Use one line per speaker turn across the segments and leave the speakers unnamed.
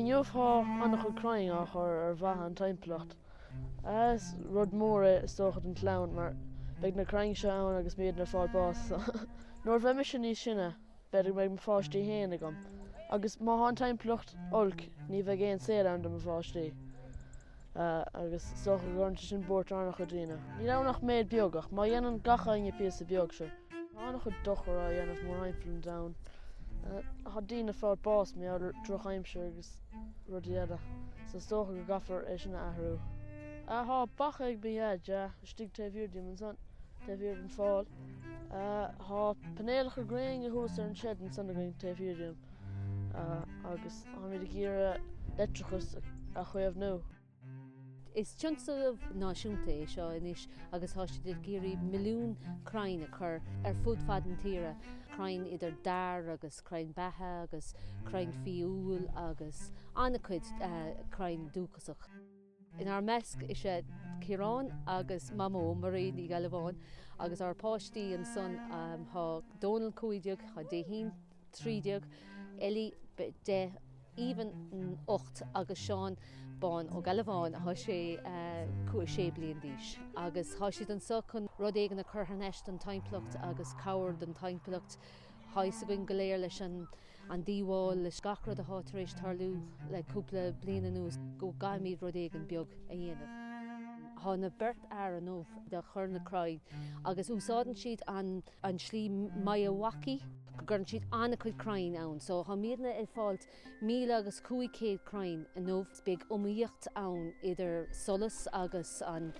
Inniu thá an-chuid crainn á chur ar mhaithe an timpeallacht. Is rud mór é is dócha don chlann mar beidh na crainn seo ann agus muidne ag fáil bás. Nuair a bheidh mise níos sine b'fhéidir go mbeidh mo pháistí fhéin agam agus má thá an timpeallacht olc ní bheidh aon saol ann do mo pháistí. Agus is dócha go gcuireann sé sin buairt ar an-chuid daoine. Níl ann ach méid beag ach má dhéanann gach éinne píosa beag seo. Tá an-chuid dochar á dhéanamh mórthimpeall an domhain. Tá daoine ag fáil bás mar gheall ar dhrochaimsir agus rudaí eile, so is dócha go gcaithfear é sin a athrú. Tá beacha ag mo dhaid istigh taobh thiar díom ansan, taobh thiar den fál. Tá painéalacha gréine thuas ar an tseid ansan againn taobh thiar díom agus táimid ag iarraidh leictreachas a chaomhnú.
Is tionscnamh náisiúnta é seo anois agus tá siad ag iarraidh milliún crainn a chur ar fud fad na tíre, crainn idir dair agus crainn beithe agus crainn fia-úll agus an-chuid crainn dúchasach. Inár measc is é Ciarán agus Mamó, Marion Uí Ghealbháin, agus ár páistí ansan tá Dónal, 15, tá Déithín, 13, Ellie, deich, Aoibhinn, ocht, agus Seán Bán Ó Gealbháin, thá sé a cúig, sé bliain d'aois, agus thá siad anso chun rud éigin a chur thar n-ais don timpeallacht agus cabhair don timpeallacht. Thá fhios againn go léir leis an an díobháil, leis gach rud athá tar éis tarlú le cúpla bliain anuas go gcaithfimid rud éigin beag a dhéanamh. Thá na beirt fhear inniu ag cur na crainn agus úsáideann siad an. an tslí Miyawaki, go gcuireann siad an-chuid crainn ann. So táimidne ag fáilt míle agus cúig céad crainn inniu. Beidh iomaíocht ann idir solas agus an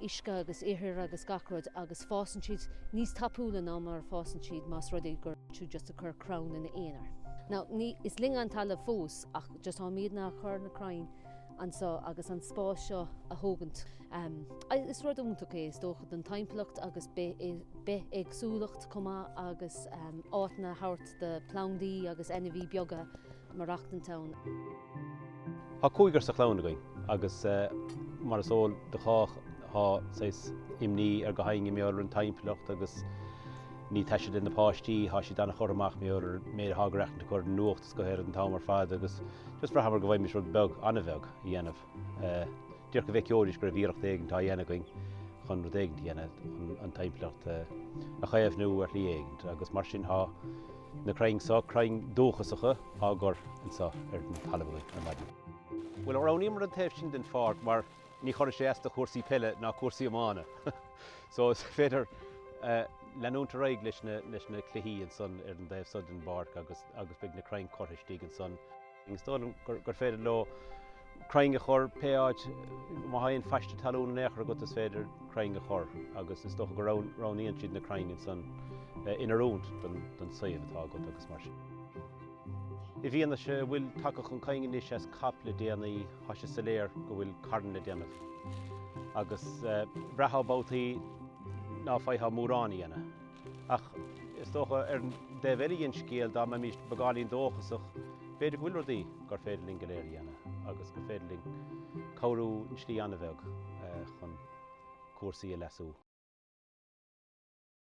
uisce agus ithir agus gach rud agus fásann siad níos tapúla ná mar a fásann siad más rud é gur tú just ag cur crann ina aonar. Now, is linn an talamh fós ach just táimidne ag cur na crainn. anseo agus an spás seo a thógaint. Is rud iontach é is dócha don timpeallacht agus bithéagsúlacht chomh maith agus áiteanna a thabhairt do phlandaí agus ainmhithe beaga maireachtaint ann.
Tá cúigear sa chlann againn agus mar is eol do chách tá saghas imní ar gach éinne mar gheall ar an timpeallacht agus ní taise do na páistí, tá siad an-churtha amach mar gheall ar an méid atá á aireachtaint acu ar na go léir an t-am ar fad agus just bhraitheamar go bhféadfaimis rud beag, an-bheag, a dhéanamh. Díreach go bhfeiceoidís go raibh iarracht éigin á dhéanamh againn chun rud éigin a dhéanamh chun an timpeallacht a chaomhnú ar shlí éigin agus mar sin tá na crainn seo, crainn dúchasacha, á gcur anseo ar an talamh againn ar maidin. Bhuel, roghnaíomar an taobh sin den pháirc mar ní chuirfidh sé as do chúrsaí peile ná cúrsaí iomána so is féidir leanúint ar aghaidh leis na cluichí ansan ar an dtaobh so den bpáirc agus beidh na crainn curtha istigh ansan agus is dóigh liom gur féidir leo crainn a chur pé áit má thá aon phaiste talún in aon chor agat is féidir crainn a chur agus is dócha go roghnaíonn siad na crainn ansan in oiriúint don suíomh atá agat agus mar sin. I bhfianaise a bhfuil tagtha chun cinn anois as COP le déanaí, Thá sé soiléir go bhfuil carn le déanamh, agus bhraithfeá babhtaí ná faighfeá mórán a dhéanamh. Ach is dócha, ar an dtaobh eile dhen scéal, dá mbeimíst beagáinín dóchasach, b'fhéidir go bhfuil rudaí gur féidir linn go léir a dhéanamh, agus gur féidir linn cabhrú i slí an-bheag chun cúrsaí a leasú.